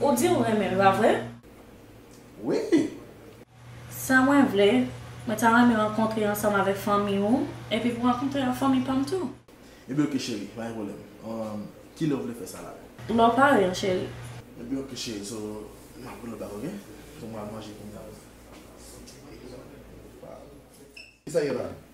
Ou di ou renmen l pa vre? Wi. Sa mwen vle, mwen ta renmen rankontre ansanm avèk fanmi ou, epi pou rankontre ak fanmi pa m tou. Ebyen ok cheri, pa gen pwoblèm. Ki lè ou vle fè sa la? Lè w pare an cheri. Ebyen ok cheri, so m ap rele w bak ok? So m pral manje kounya wi. Kisa gen la?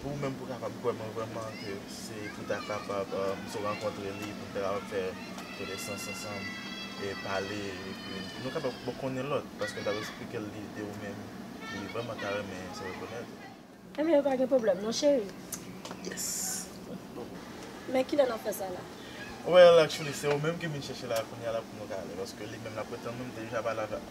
Pou ou menm pou kapab kwè mwen vrèman ke se pou ta kapab m sou rankontre li pou n ta kapab fè konesans ansanm e pale epi nou kapab bon konnen lòt paske m t ap esplike l li de ou menm li vrèman ta renmen se rekonèt ou. Enben yo pa gen pwoblèm non cheri. Yes Men kilè n ap fè sa la? Well actually se ou menm ke m vin chèche la kounya la pou nou ka ale paske li menm l ap retann nou m deja pale avè l.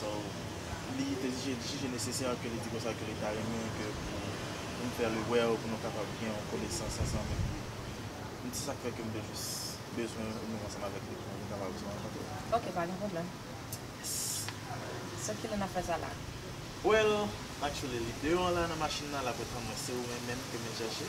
So, li te jije nesesè ke li di konsa ke li ta renmen ke pou nou fè li wè ou pou nou kapab gen yon konesans ansanm epi m se sak fè ke m te jis bezwen ou menm ansanm avèk li pou nou kapab jwenn rankontre. Ok, pa gen pwoblèm. So kilè n ap fè sa la? Well, actually li deyò an la nan machin nan, l ap retann mwen, se ou menm menm ke m vin chèche.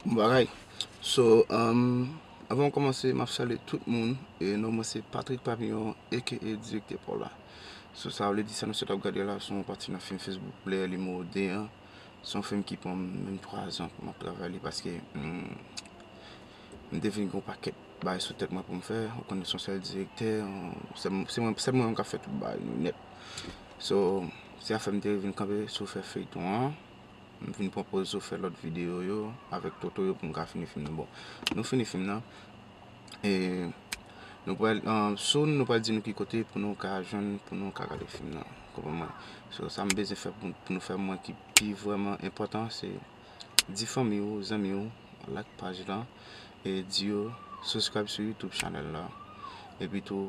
Bon bagay So avan m kòmanse m ap salye tout moun E non mwen se Patrick Papillon aka Direktè Paula So sa vle di sa misye t ap gade la se yon pati nan fim Facebook Player Numéro 2 an Se yon fim ki pran m menm 3 zan pou m ap travay li paske m te vin gen yon pakèt bagay sou tèt mwen pou m fè Ou konnen se yon sèl direktè Se mwen menm k ap fè tout bagay yo nèt So, se sa fè m te vin kanpe sou fè feyton an. M vin pran poz sou fè lòt videyo yo avèk Toto yo pou m ka fini fim nan. Bon, nou fini fim nan. E nou pral soon nou pral di nou ki kote pou nou ka jwenn pou nou ka gade fim nan. Ou konprann mwen? So, sa m bezwen fè pou nou fè mwen ki pi vrèman enpòtan se di fanmi ou, zanmi ou like paj lan e di yo subscribe sou youtube channel la. Epi tou.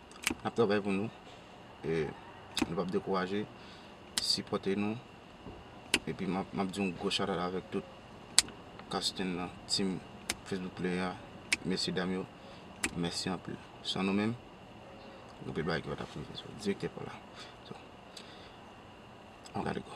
N ap travay pou nou. E nou pap dekouraje. Sipòte nou. Epi m ap di yon gwo chatout avèk tout casting lan, team Facebook Player a. Mesye dam yo, mèsi anpil. San nou menm, anpil bagay ki pa t ap rive. Direktè Paul la. An gade gò.